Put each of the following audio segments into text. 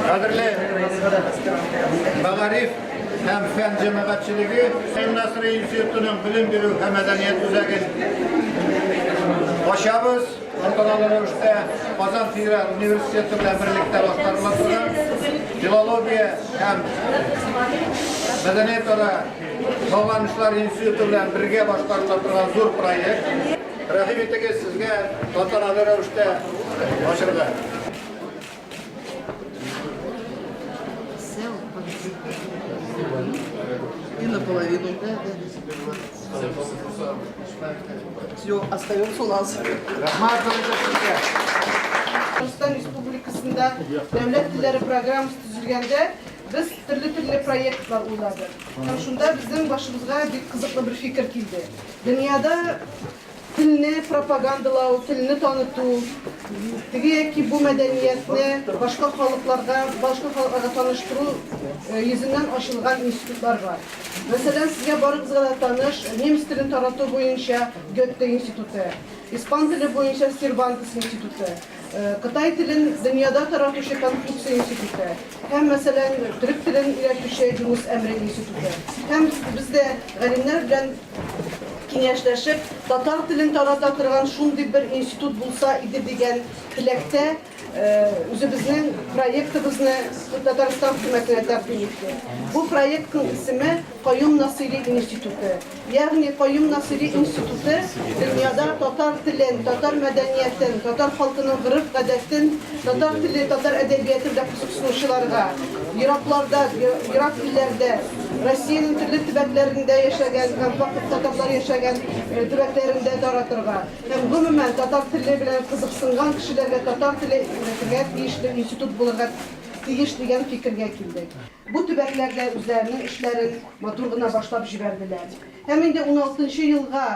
Кадерле Мәгариф һәм фән җәмәгатьчелеге Хәсән Насри институтының белем бирү һәм мәдәният үзәген ачабыз. Антоналы рәвештә Казан федераль университеты белән берлектә башкарыла торган филология һәм мәдәниятара Салланышлар институты белән бергә башкарыла торган зур проект. Рәхим итегез сезгә тантаналы рәвештә ачырга. И наполовину. Все, остается у нас. Татарстан Республикасында дәүләт телләре программасы төзелгәндә без төрле-төрле проектлар уйладык. Һәм шунда безнең башыбызга бик кызыклы бер фикер килде. Дөньяда телне пропагандалау, телне таныту, теге яки бу мәдәниятне башка халыкларга, башка халыкларга таныштыру йөзеннән ачылган институтлар бар. Мәсәлән, сезгә барыгызга да таныш немец телен тарату буенча Гетте институты, испан теле буенча Сервантес институты. Кытай телен дөньяда таратучы Конфуция институты һәм, мәсәлән, төрек телен өйрәтүче Юныс Әмре институты һәм без дә галимнәр белән киңәшләшеп, татар телен тарата торган шундый бер институт булса иде дигән теләктә үзебезнең проектыбызны Татарстан хөкүмәтенә тәкъдим иттек. Бу проектның исеме Каюм Насыйри институты. Ягъни Каюм Насыйри институты дөньяда татар телен, татар мәдәниятен, татар халкының гореф-гадәтен, татар теле, татар әдәбияты белән кызыксынучыларга, еракларда, ерак илләрдә, Россиянең төрле төбәкләрендә яшәгән һәм фактик татарлар яшәгән төбәкләрендә таратырга һәм, гомумән, татар теле белән кызыксынган кешеләргә татар теле өйрәтергә тиешле институт булырга тиеш дигән фикергә килдек. Бу төбәкләр дә үзләренең эшләрен матур гына башлап җибәрделәр. Һәм инде уналтынчы елга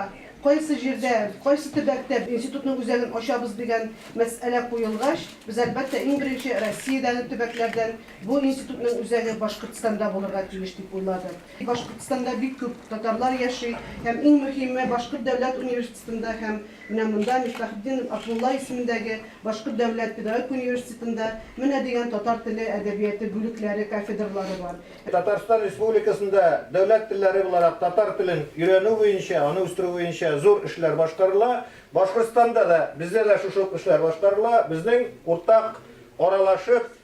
кайсы җирдә, кайсы төбәктә институтның үзәген ачабыз дигән мәсьәлә куелгач, без, әлбәттә, иң беренче Россиядәге төбәкләрдән бу институтның үзәге Башкортстанда булырга тиеш дип уйладык. Башкортстанда бик күп татарлар яши һәм, иң мөһиме, Башкорт дәүләт университеты, Стында һәм менә монда, Мифтахетдинов Абдулла исемендәге Башкорт дәүләт педагогик университетында менә дигән татар теле, әдәбияты бүлекләре, кафедралары бар. Татарстан Республикасында дәүләт телләре буларак татар телен өйрәнү буенча, аны үстерү буенча зур эшләр башкарыла. Башкортстанда да, бездә дә шушы ук эшләр башкарыла. Безнең уртак аралашып,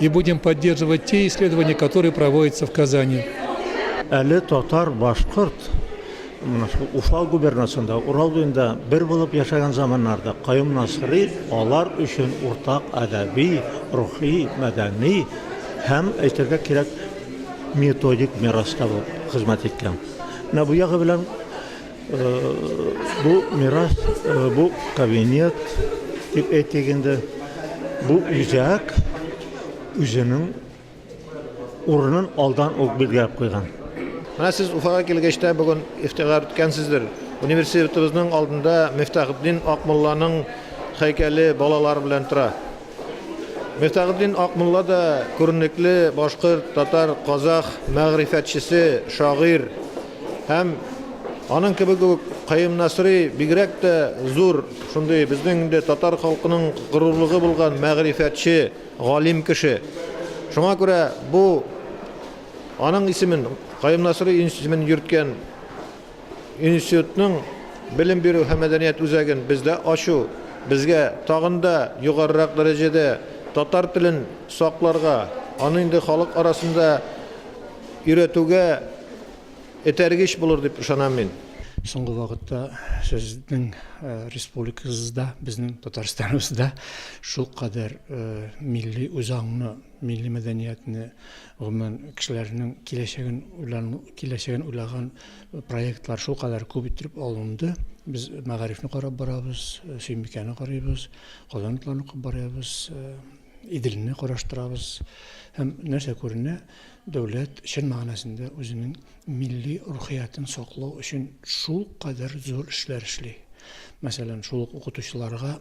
И будем поддерживать те исследования, которые проводятся в Казани. Әле татар, башкорт, Уфа губернасында, Урал буенда бер булып яшәгән заманнарда Каюм Насыри алар өчен уртак әдәби, рухи, мәдәни һәм әйтергә кирәк методик мирас табып хезмәт иткән. Менә бу ягы белән Бу мирас, бу кабинет дип әйтик инде. Бу үзәк үзенең урынын алдан ук билгеләп куйган. Менә сез Уфага килгәч тә бүген ихтыяр иткәнсездер. Университетыбызның алдында Мифтахетдин Акмулланың һәйкәле балалар белән тора. Мөстәгыйтдин Акмулла да күренекле башкорт, татар, казах мәгърифәтчесе, шагыйрь һәм аның кебек үк Каюм Насыйри бигрәк тә зур шундый безнең инде татар халкының горурлыгы булган мәгърифәтче, галим кеше. Шуңа күрә бу аның исемен, Каюм Насыйри исемен йөрткән Институтның Белем бирү һәм мәдәният үзәген бездә ачу безгә тагын да югарырак дәрәҗәдә татар телен сакларга, аны инде халык арасында өйрәтүгә этәргеч булыр дип ышанам мин. Соңгы вакытта сезнең республикагызда, безнең Татарстаныбызда шулкадәр милли үзаңны, милли мәдәниятне Гомумән, кешеләрнең киләчәген уйлану, киләчәген уйлаган проектлар шулкадәр күп иттереп алынды. Без мәгарифне карап барабыз, Сөембикәне карыйбыз, Казан утларын укып барабыз, Иделне караштырабыз. Һәм нәрсә күренә? Дәүләт чын мәгънәсендә үзенең милли рухиятен саклау өчен шулкадәр зур эшләр эшли. Мәсәлән, шул ук укытучыларга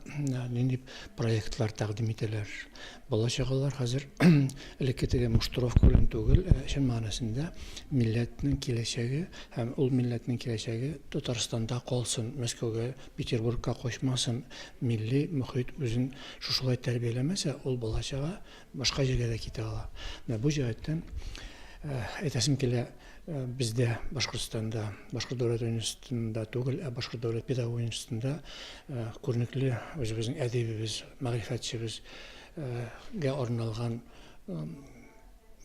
нинди проектлар тәкъдим ителәр? Бала-чагалар хәзер элекке теге муштровка белән түгел, ә чын мәгънәсендә милләтнең киләчәге һәм ул милләтнең киләчәге Татарстанда калсын, Мәскәүгә, Петербургка качмасын, милли мохит үзен шушылай тәрбияләмәсә, ул бала-чага башка җиргә дә китә ала. Менә бу җәһәттән әйтәсем килә, Э, бездә башкортстанда башкорт дәүләт университетында түгел ә башкорт дәүләт педагог университетында э, күренекле үзебезнең әдибебез мәгърифәтчебезгә э, арналган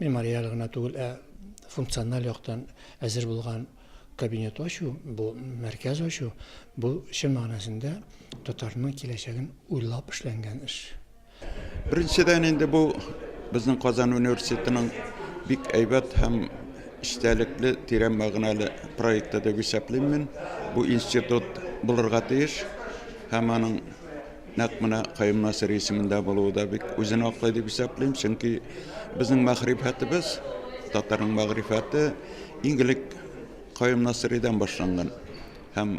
мемориаль гына түгел ә функциональ яктан әзер булган кабинет ачу бу мәркәз ачу бу чын мәгънәсендә татарның киләчәген уйлап эшләнгән эш Беренчедән инде бу безнең Казан университетының бик әйбәт һәм эчтәлекле, тирән мәгънәле проекты дип исәплим мин. Бу институт булырга тиеш һәм аның нәкъ менә Каюм Насыйри исемендә булуы да бик үзен аклый дип исәплим, чөнки безнең мәгърифәтебез, татарның мәгърифәте иң элек Каюм Насыйридан башланган һәм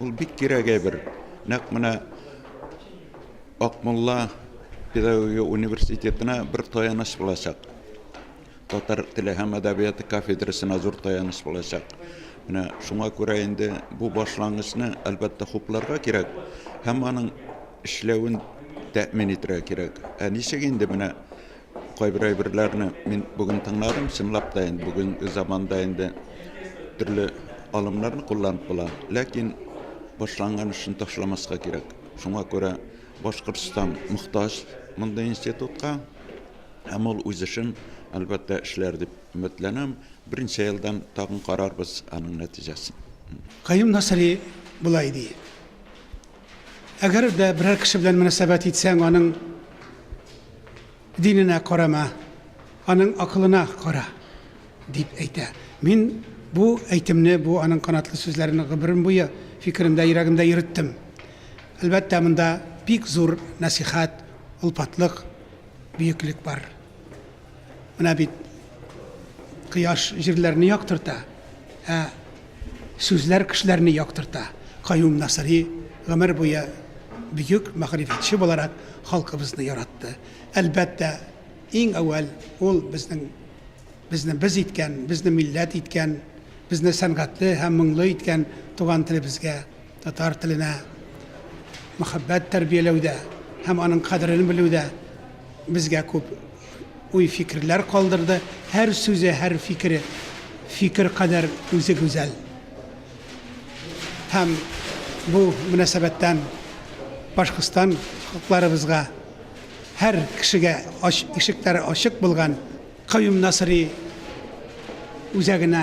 Ул бик кирәк әйбер. Нәкъ менә Акмулла педагогия университетына бер таяныч булачак. Татар теле һәм әдәбияты кафедрасына зур таяныч булачак. Менә шуңа күрә инде бу башлангычны, әлбәттә, хупларга кирәк һәм аның эшләвен тәэмин итәргә кирәк. Ә ничек инде менә Кайбер әйберләрне мин бүген тыңладым, чынлап та инде бүгенге заманда инде төрле алымнарны кулланып була, ләкин башланган эшне ташламаска кирәк. Шуңа күрә Башкортстан мохтаҗ мондый институтка, һәм ул үз эшен, әлбәттә, эшләр дип өметләнәм. Берничә елдан тагын карарбыз аның нәтиҗәсен. Каюм Насыйри болай ди. Әгәр дә берәр кеше белән мөнәсәбәт итсәң, аның диненә карама, аның акылына кара, дип әйтә. Мин бу әйтемне, бу аның канатлы сүзләрен гомерем буе фикеремдә, йөрәгемдә йөреттем. Әлбәттә, монда бик зур нәсыйхәт, олпатлык, бөеклек бар. Менә бит кояш җирләрне яктырта, ә сүзләр кешеләрне яктырта. Каюм Насыри гомер буе бөек мәгърифәтче буларак халкыбызны яратты. Әлбәттә, иң әүвәл ул безнең безне без иткән, безне милләт иткән, безне сәнгатьле һәм моңлы иткән туган телебезгә Татар теленә мәхәббәт тәрбияләүдә һәм аның кадерен белүдә безгә күп уй-фикерләр калдырды. Һәр сүзе, һәр фикере, фикер кадәр үзе гүзәл. Һәм бу мөнәсәбәттән Башкортстан халыкларыбызга, һәр кешегә ач, ишекләре ачык булган Каюм Насыйри үзәгенә